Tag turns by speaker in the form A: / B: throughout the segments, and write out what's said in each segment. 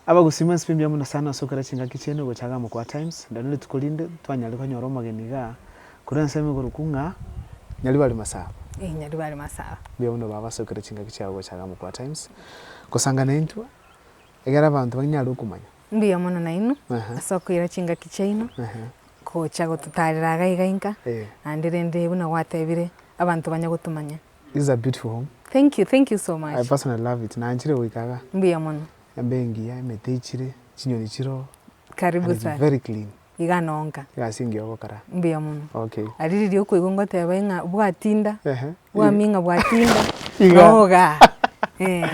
A: Abagusii mwensi be mbiamo Nyasae nonsi okere chingaki chiaino gocha agamo kwa Times ndari nerituko rinde twanyare konyora omogeni iga korwa ensemo igorokwu ng'a Nyaribari Masaba. Ee Nyaribari Masaba. Mbuya mono baba ase okere chingaki chiao gocha agamo kwa Times kosanga naintwe egere abanto banyare okomanya. Mbuya mono nainwe ase okoira chingaki chiaino gocha gototarera iga iga inka naende rende buna gwatebire abanto banye gotomanya. This is a beautiful home. Thank you, thank you so much. I personally love it. Nanchire goika iga. Mbuya mono. Embe engiya, emete ichire, chinyoni chiro. Karibu sana. Very clean. Iga nonka. Iga ase engiya ogokara. Mbuya mono. Okay. Ari riria okoigwa ngoteba ing'a bwatinda. Ehe. Bwami ing'a bwatinda. Iga. Oga. Eh.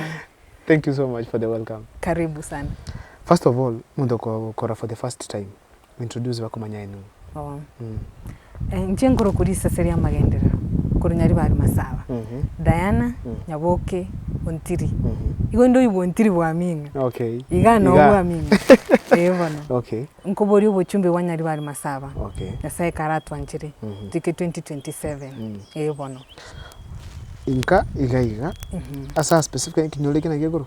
A: Thank you so much for the welcome. Karibu sana. First of all, munto okora for the first time. Introduce bakomanya aye nigo. Bono inche nkorokwa risese ri'amagenderero korwa Nyaribari Masaba, Diana Nyaboke Ontiri, igo indoigwa Ontiri bwamino, iga noo bwamino, ee bono. Nkoboria obochumbe bwa Nyaribari Masaba, Nyasae ekare atwanchire toike 2027, ee bono. Inka iga iga, ase specifically ekinyoro ekio nagekorwa?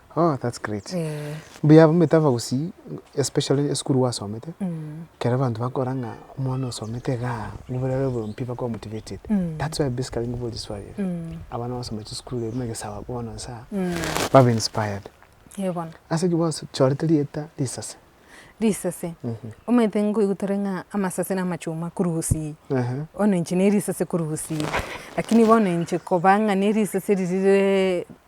A: Oh that's great. Mbuya omanyete abagusii especially esukuru gwasomete, ekero abanto bakora ng'a omwana osomete igaa mbuna are oboyompia bakoba motivated. That's why basically nkoboria eswali ere. Abana basomete chisukuru ebi buna egesaaba bono nsa aa, babe inspired. Eeh bono. Ase ki gwachorete rieta risase? Risase? Omanyete nkoigwa tore ng'a amasase na amachuma korwa gusii. Ehe. Bono inche ne risase korwa gusii. Lakini bono inche koba ng'a ne risase riri rire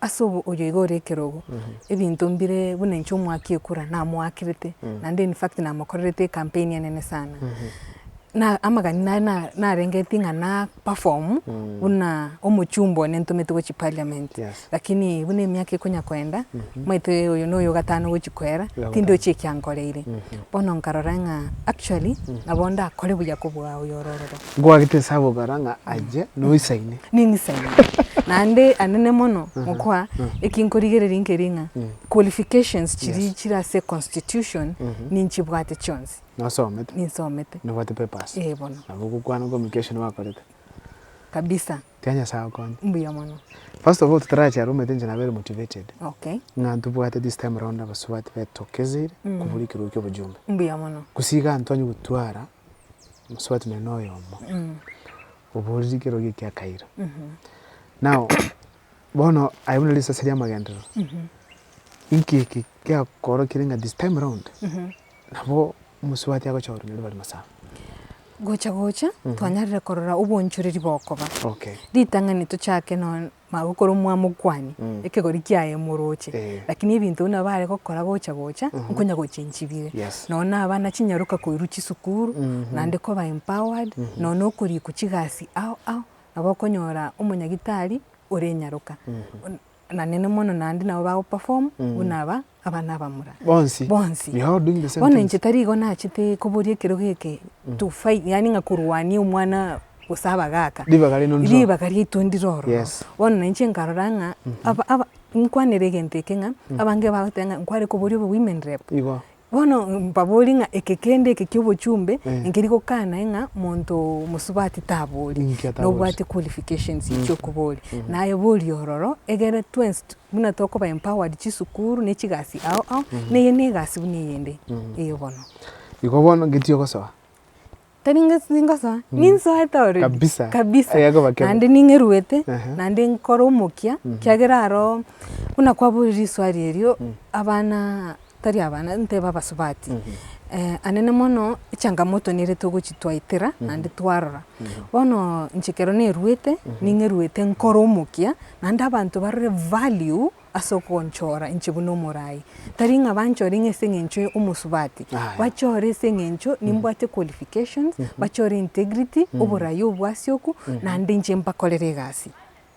A: Ase obo oyo iga ore ekerogo, ebinto mbire buna inche omwaki ekura namoakerete, naende in fact namokorerete ecampaign enene sana. Na amagani naye na- narengetie ng'a na perform buna omochumba one ntomete gochia parliament, Yes. lakini buna emiaka ekonya koenda, omanyete oyo noyo ogatano gochia koera, Oyogotaano. tindochi ekiankoreire. Bono nkarora ng'a actually nabo ndakore buya kobua oyo ore ororo. Nkwagete ase ababera ng'a aye noisaine. Ningisaine. Naende ande ne mono ngokwa eki nkorigereria nkeri ng'a qualifications chiria chire ase constitution ninchibwate chionsi. Nosomete. Ninsomete. Nobwate papers. Ee bono. Nabo ogokwana communication bakorete. Kabisa. Tia Nyasaye akonye. Mbuya mono. First of all totarachia ere omanyete inche nabere motivated. Okay. Ng'a ntobwate this time round abasubati betokeseire kobua ekerogo kia obojumbe. Mbuya mono. Gose iga ntwanye gotwara mosubati nonye na oyomo, obooriri kero giki akaira. Nao bono aye buna risasi ri'amagenderero, inki eke giakoorokire ng'a this time round nabo omosubati agocha korwa nyarobari masaaba? Gocha gocha twanyarire korora obonchoreri bokoba. Okay. Ritang'ani tochake nonya. magokora omwamokwani, ekegori kiaye emoroche, lakini ebinto buna bare gokora gocha gocha, nkonya gocha enchibire. Nonya na abana chinyaroka koirwa chisukuru, naende koba empowered, nonya na okorikwa chigasi ao ao, nabo okonyora omonyagitari ore enyaroka. Nanene mono naende nabo bagoperform buna aba. Aba nabamura. Bonsi. Bonsi. You are doing the same Bono things. inche tarigo nachete koboria ekerogo eke to fight, yaani ng'a korwania omwana gose abagaaka. Ribaga rino ndiro. Ribaga riaito ndire ororo. Yes. Bono na inche nkarora ng'a aba, aba, nkwanere egento eke ng'a abange bagoteba ng'a nkware koboria obe women rep. Igo. Bono mbaborie ng'a eke kende eke kia obochumbe Eh. nkeri gokanae ng'a monto mosubati tabori. Inki atabori? Nobwate qualifications chia okoboria. Naye boria ororo egere twensi tu- Buna tokoba empowered chisukuru ne chigasi ao ao, neye ne egasi buna eyende eyo bono. Igo bono ngetie gosoa. Tari inga ingosoa, ninsoete already. Kabisa. Kabisa. Aya koba kebe. Naende ning'eruete, Ehe. naende nkore omokia, kiagera aro buna kwaboire riswari erio, abana tari abana ntebe abasubati, anene mono echangamoto nere togochitwaetera naende twarora. Bono inche ekero nerwete, ning'erwete nkore omokia, naende abanto barore value ase ogonchora inche buna omoraai. Tari ng'a banchore ng'a ase eng'encho omosubati, bachore ase eng'encho nimbwate qualifications, bachore integrity, oboraai obwasioku, naende inche mbakorere egasi.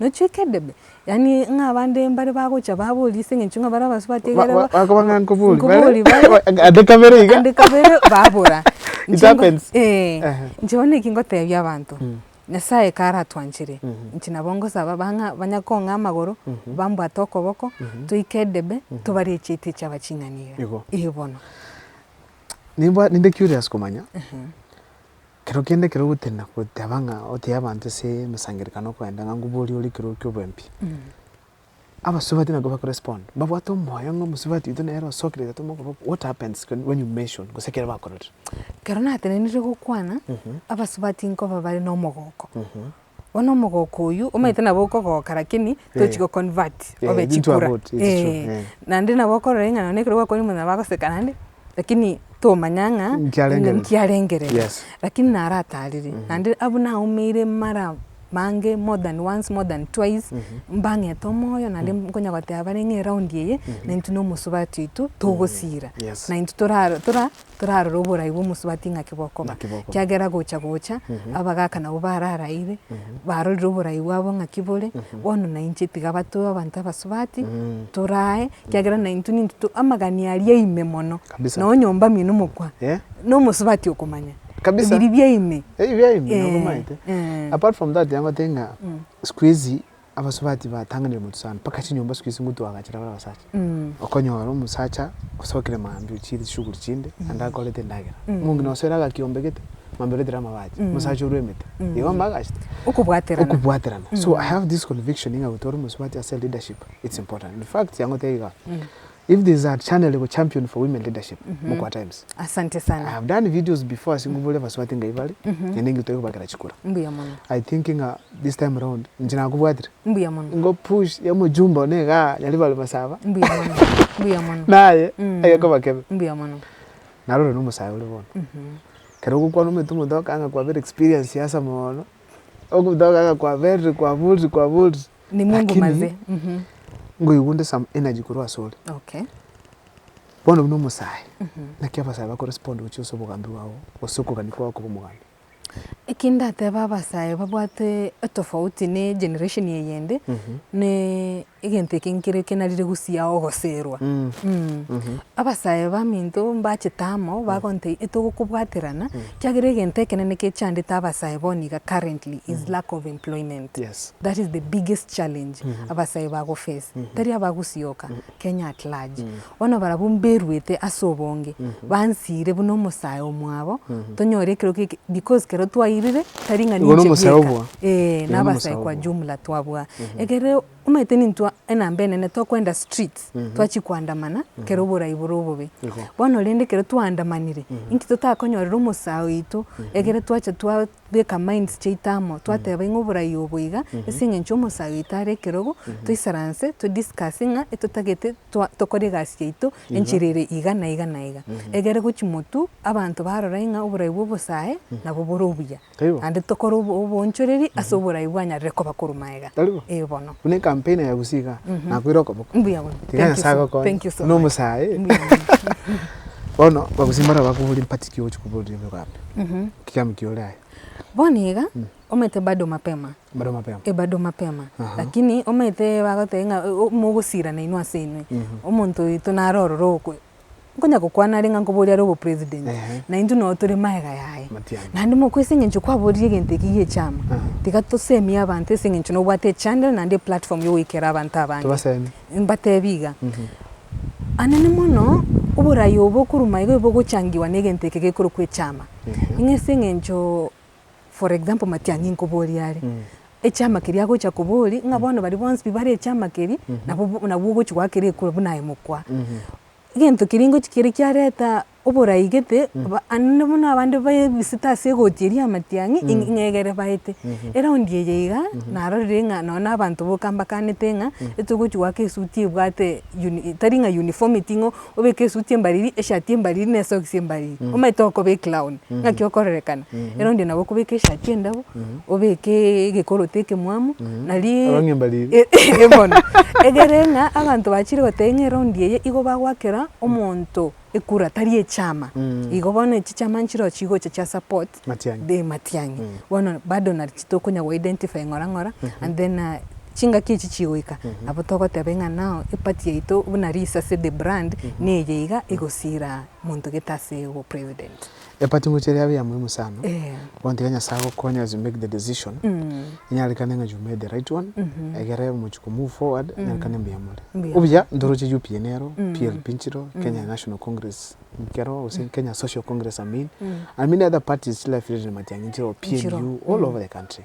A: nochweka edebe, yaani ng'a abande mbare bagocha baboria ase eng'encho ng'a bare abasubati Ba- ekero ba- bakoba ng'a nkobori bare, nkobori bare, ba- ande kabere iga. ande kabere babora. It Inche ngo- happens. eh, Ehe. inche bono eki ngotebia abanto, Nyasaye ekero aratwanchire, inche nabo ngosaba bang'a banya kong'aa amagoro, bambwate okoboko, toike edebe, tobare echieta echiaba ching'ani iga. Igo. Igo bono. Nimbwa- ninde curious komanya. Ekero kende ekero ogotenena goteba ng'a otebie abanto ase emesangererekano okoenda ng'a ngubua oria ore ekero kia oboembi, abasubati nabo bako respond mbabwate omoyo ng'a omosubati oito nere osokire gete omokobe okwo what happens when when you mention gose ekero bakororire. Ekero natenenire gokwana, abasubati nkoba bare na omogoko. Bono omogoko oywo omanyete nabo okogoka lakini tochi go convert obe chikura. Naende nabo okorora ng'a nonya ekero gwakwanire omonyene nabo agoseka naende, lakini tomanya ng'a ninki arengerere. Lakini naro atarire, naende abwo naumeire mara mange more than once, more than twice, mbang'ete omoyo naende nkonya goteba bare ng'a eraundi eye, naintwe na omosubati oito togosira. Naintwe torarore oboraai bw'omosubati ng'aki bokoba, Ng'aki bokoba. ekiagera gocha gocha abagaaka nabwo bararaire, barorire oboraai bwabo ng'aki bore, bono nainche tiga batoe abanto abasubati, torae, ekiagera naintwe ninto to amagani aria ime mono, Kabisa. nonye nyomba ime nomokwa, Eh? nomosubati okomanya, Kabisa. ebiria ime. Ebi biaye ime Eh, nokomanyete eh. apart from that nigo ngotebi ng'a sikuizi Abasubati batanganire motosana mpaka chinyomba siku isi ngotwa agachera bare abasacha. Okonyora omosacha osokire maambia ochiire chishughuli chinde naende akorete endagera. Omonge na osoera agakiombegete, maambia oretire amabaati, omosacha orwe emete. Igo amba agachete. Okobwaterana. Okobwaterana. So I have this conviction ng'a gotwara omosubati ase leadership it's important. In fact, yangotebia igaa, If there is a channel iko champion for women leadership mokwa times. Asante sana. I have done videos before ase ngubore abasubati ngai bare, naende ngitwe kobakera chikura. Mbuya mono. I think ng'a this time round inche nakobwatire. Mbuya mono. Ngo push ya mojumba one igaa nyari bare masaba. Mbuya mono. Mbuya mono. Naye aya koba kebe. Mbuya mono. Narore no mosae ore bono. Kero ogokwana omanyete omonto akanga kwa bere experience ya asa mono. Omonto akanga kwa bere kwa bori kwa bori. Lakini ngoigwa onde some energy korwa asore. Bono buna omosae, naki abasae bako respond gochia ase obogambi bwabo gose okogania kwabo koba omogambi? Eki ndatebe abasae babwate etofauti ne generation eyende, ne egento eke nkere kenarire gosiao ogoserwa. Abasae baminto mbachete amo bagontebia etogokobwaterana, kiagera egento ekenene kechandete abasae bono iga currently is lack of employment. Yes. That is the biggest challenge abasae bago face, tari abagusioka, Kenya at large. Bono barabwo mberuete ase obonge, bansiire buna omosae omwabo, tonyore ekero ki because kero twairire tari ng'a ninche bweka, eeh na abasae kwa jumla twabua. Ekero omanyete nintwe enamba enene tokwenda streets, twachia koandamana kero oborai bore obobe. Bono rende ekero twaandamanire, inki totakonyorera omosae oito ekero twacha twa. bweka minds chiaito amo, twateba ing'o oborai obo iga, ase eng'encho omosae oito are ekerogo, toisaranse to discuss ng'a etotagete twa tokore egasi yaito enchera ere iga na iga na iga. Egere gochi motwe, abanto barora ing'a oborai bwa obosae nabo bore obuya, Taibo. naende tokore obo oboonchoreri ase oborai bwanyarire koba korwa magega. Taribo. Ee bono. Buna ecampaign ya Gusii igaa, Mm. nakoira okoboko. Mbuya mono. Tiga Thank you Nyasae so- agokonye. thank you so Buna much. omosae. Mbuya mono. Bono Abagusii mbare abakobore empatiki ogochia koboria oboigo abe. Ekitambo ki ore aye. Bono iga omanyete bado mapema. Bado mapema. Eh bado mapema. Lakini omanyete bagoteba ng'a mogosirana inwe ase inwe. Omonto oito naro ororo ogokora nkonya gokwana are ng'a nkoborie are obo president. Na intwe no tore magega yaye. Matiang'i. Naende mokwe ase eng'encho kwaborire egento eke gie chama. Tiga tosemie abanto ase eng'encho nobwate echandera naende eplatform ya goikera abanto abange. Tobasemi. mbateebie iga, Anene mono oboraai obo okoruma iga bogochangigwa negento eke gekorokwa echama. Ng'a ase eng'encho for example matiang'i nkoborie are, echama keria agocha koboria ng'a bono baria bonsi pi bare echama keria nabo nabwo ogochi goaka ere ekura buna aye mokwa. Egento keria ngochia kere kiareta. oboraigete, naende buna abande baebisete ase egooti eria y'amatiang'i, ing'egere baete. Eraundi eye iga, narorire ng'a nonya na abanto boka mbakaanete ng'a etogochia goaka esuti ebwate tari ng'a uniformity ng'a obeke esuti embariri, eshati embariri na esokisi embariri, omanyete okoba eclown, ng'aki okororekana. Eraundi nabo okobeka eshati endabo, obekeeee egekoroti ekemwamu, naria Abang'e mbariri. bono, egere ng'a abanto bachire goteba ng'a eraundi eye igo bagoakera omonto ekura tari echama igo bono echi chama nchireo chigocha chia support the matiang'i bono bado nachi tokonya go identify ng'ora ng'ora and then chingaki echi chigoika nabo togoteba ng'a nao eparty yaito buna risase the brand neye iga egosira monto gete ase obopresident. Empati inwe chiria yabe eyamoimu sana, gotiga Nyasae agokonye as you make the decision, inyarekane ng'a you made the right one, egere omochie ko move forward, inyarekane mbuya more. Obuya ntoroche UPN ero, PLP nchiro, Kenya National Congress nkero, gose Kenya Social Congress I mean, and many other parties chire affiliated na matiang'i nchiro, PNU, all over the country.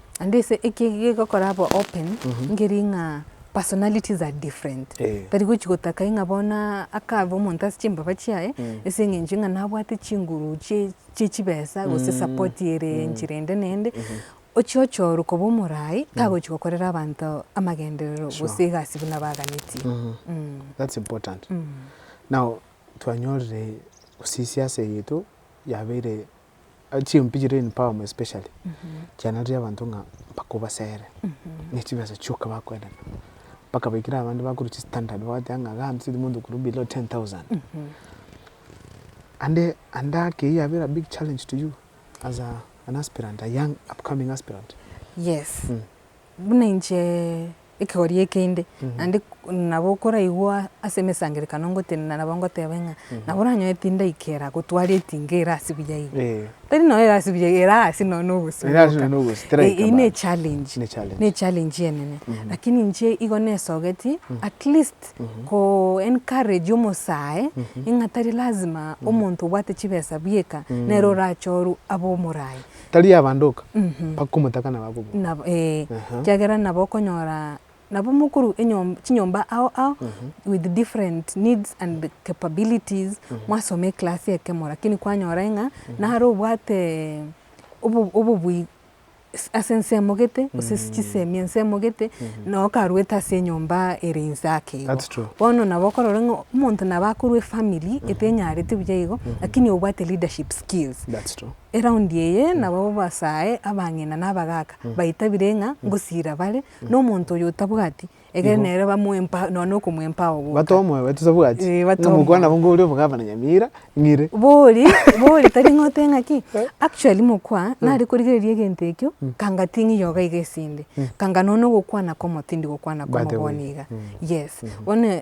A: And ase eki egekogora abe open, nkeri ng'a personalities are different. Eh. Tari gochi gotaka ng'a bono akabe omonto ase chimbaba chiaye, ase eng'encho ng'a nabwate chinguru chie chie chibesa gose support ere enchera ende na ende, ochie ochorwe koba omoraai, tagochi gokorera abanto amagenderero gose egasi buna baaganetie. That's important. Now, twanyorire gosisia ase egeto yabeire chimpi chire in power especially chiananire abanto ng'a mpaka obasere ne chibesa chioka bakoendana mpaka baikire abande bakorwa chistandard bagoteeba ng'a iga ntosigete omonto okorwa below ten thousand. Ande ande ake eyio yabera a big challenge to you as an aspirant a young upcoming aspirant? Yes. Buna inche ekegori eke inde, naende nabo okoraigwa ase emesangererekano ngotenena nabo ngotebe ng'a nabo oranyore tindaikera gotwara etinga ere ase buya iga. Tari nonya ere ase buya iga, ere ase nonya na obosio bwoka. Eyio ne echallenge, ne echallenge enene. Lakini inche igo nesogeti at least ko encourage omosae ng'a tari lazima omonto obwate chibesa bweka nere orache orwe abe omoraai. Tari yabandoka, Mhm. bakomotaka na bakobua. Nabo, eh, Aha. ekiagera nabo okonyora nabo mokuru enyom- chinyomba ao ao with different needs and the capabilities mwasoma eclass ekemo lakini kwanyora ng'a nare obwate obo- obobui s- ase ense emogete gose ase chisemi ense emogete noo okarwete ase enyomba ere inse ake igo. That's true. Bono nabo okorora ng'a omonto nabo akorwa efamily etenyarete buya igo lakini obwate leadership skills. That's true. eraundi eye nabo babasae abang'ina na abagaaka baitabire ng'a ngosiira bare, na omonto oyo otabwati, egere Igo. nere bamoe empa nonya okomoa empaao goka. Batoe omoyo baito tabwati, Eh, batoe ng'a mokwana omoyo. nabo ngoria omogavana Nyamira, ng'ire. Bori, bori tari ng'a ote ng'aki, actually mokwa nare korigereria egento ekio, kanga ting'e yoga iga esinde, kanga nonya ogokwana kw'omote tindi gokwana Bate kw'omoboni boigo. iga, yes. Bono.